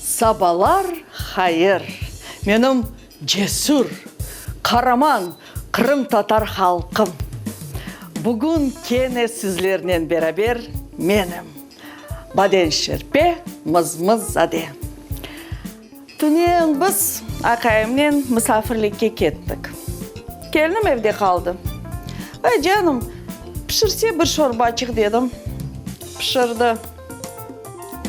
Sabalar hayır, menim cesür, qaraman qırımtatar halqım! Bugün kene sizlernen beraber menim, Badenşerpe Mızmızade. Tünen biz aqayımnen misafirlikke kettik. Kelnim evde qaldı. Ay, canım, pişirse bir şorbaçıq dedim, pişirdi.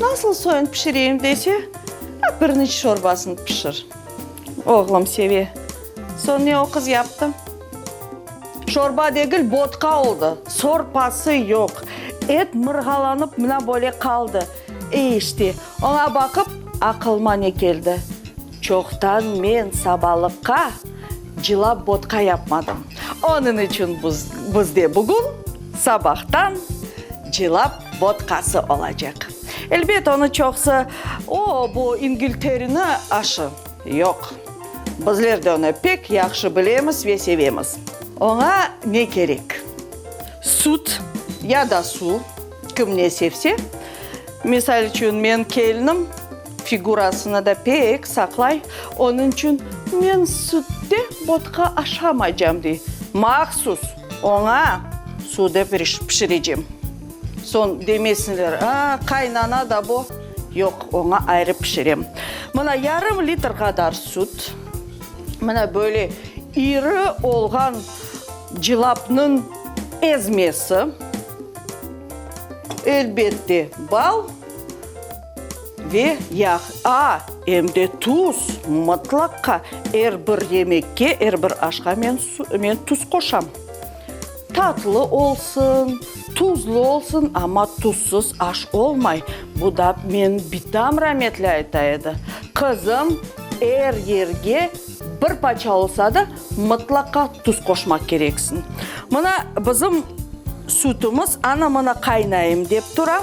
Nasıl soyun pişireyim dese, a, pirniç şorbasını pişir. Oğlum seve. Soñ ne o qız yaptı? Şorba degil, bodka oldı. Sorpası yoq. Et mırğalanıp mına böyle qaldı. E, işte, oña baqıp, aqılıma ne keldi? Çoqtan men sabalıqqa cılap bodka yapmadım. Onıñ içün buz, bizde bugün sabahtan cılap Vodkası olacaq. Elbet, onı çoqsı, O, bu İngilterini aşı. Yoq. Bizler de onı pek yahşı bilemiz ve sevemiz. Oña ne kerek? Süt ya da suv, kim ne sevse. Misal içün, men kelinim figurasını da pek saqlay, onıñ içün, Men sütte vodka aşamaycam, dey. Mahsus! Oña suvda pişirecem. Soñ demesinler, a, qaynana da bu. Yoq, oña ayrı pişirem. Mına yarım litr qadar süt, mına böyle iri olğan cılapnıñ ezmesi, elbette, bal. Ve yağ, a, em de tuz, mıtlaqqa, er bir yemekke, er bir aşqa men su, men tuz qoşam. Tatlı olsun, tuzlu olsun, amma tuzsız aş olmay, bu da men bitam rametli ayta edi. Qızım, er yerge bir paça olsa da, mıtlaqqa tuz qoşmaq kereksiñ. Mına bizim sütümiz, ana mına qaynayım dep tura.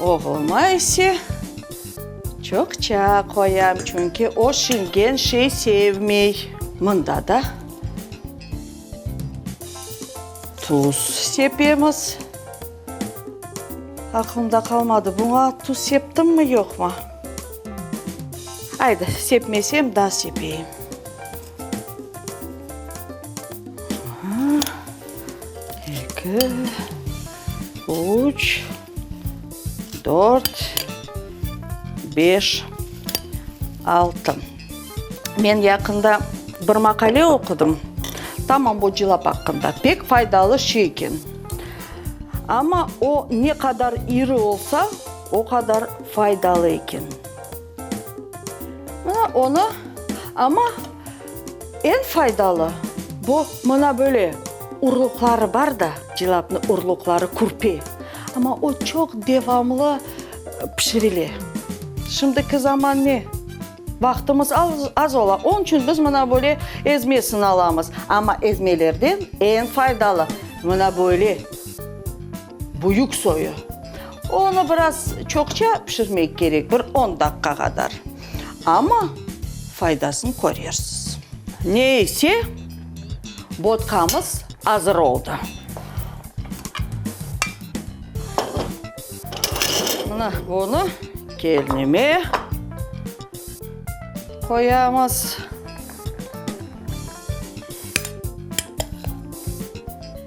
Oğluma ise çoqça qoyam, çünki o şingen şey sevmey. Mında da tuz sepemiz. Aqlımda qalmadı, buña tuz septimmı, yoqmı? Aydı, sepmesem da sepeyim. Eki. üç, dört, beş, altı. Men yaqında bir maqale oqudım, tamam bu cılap aqqında. Pek faydalı şey eken. Amma o ne qadar iri olsa, o qadar faydalı eken. Mına onı, amma. Eñ faydalı, bu, mına böyle, urluqları bar da, cilâpnıñ urluqları, kürpe, amma o çoq devamlı pişirile. Şimdiki zaman ne, vaqtımız az ola, onıñ içün biz mına böyle ezmesini alamız, amma ezmelerden eñ faydalı, mına böyle. Büyük soyu. Onı biraz çoqça pişirmek kerek, bir on daqqa qadar. Amma faydasını körersiz. Ne ise, botkamız azır oldı. Mına bunı kelnime qoyamız.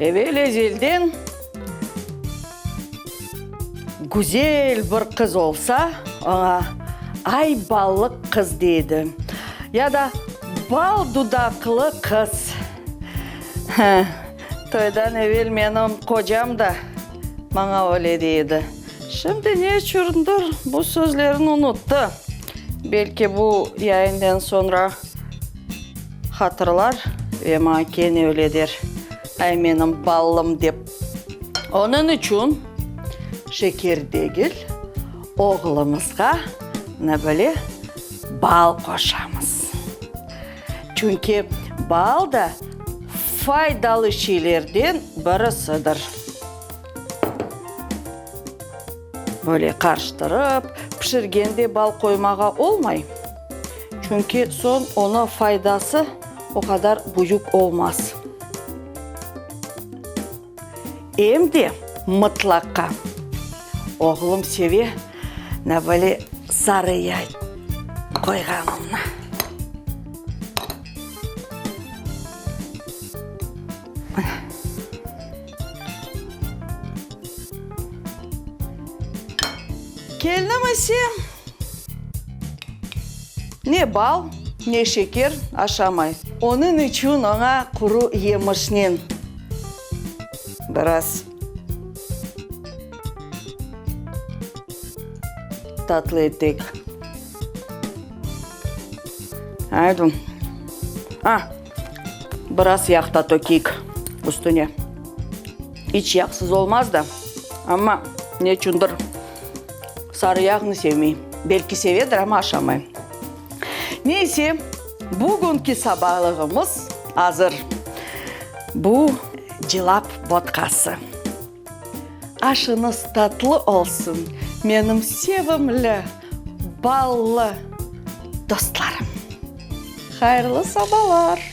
Evel ezelden güzel bir qız olsa, oña ay ballıq qız deydi, ya da bal dudaqlı qız. Toydan evel menim qocam da maña öyle dey edi. Şimdi neçündir bu sözlerini unuttı. Belki bu yayından soñra. Hatırlar ve maña kene öyle der, Ay, menim ballım, dep. Onıñ içün şeker degil, oğlumızğa, mına böyle, bal qoşamız. Çünki bal da faydalı şeylerden birisidir. Böyle qarıştırıp pişirgende bal qoymağa olmay. Çünki soñ onı faydası o qadar büyük olmaz. Em de mıtlaqa. Oğlum seve, na böyle sarı yay qoyğanımnı. Mına. Kelnim ise, ne bal, ne şeker aşamay. Onıñ içün oña quru yemişnen biraz tatlı etek. Aydın. A! Biraz yağ da tökeyik üstüne. İç yağsız olmaz da, amma neçündir sarı yağnı sevmey. Belki sevedir, amma aşamay. Neyse, bugünki sabalığımız azır. Bu, cilap vodkası. Aşıñız tatlı olsun, menim sevimli, ballı dostlarım! Hayırlı sabalar!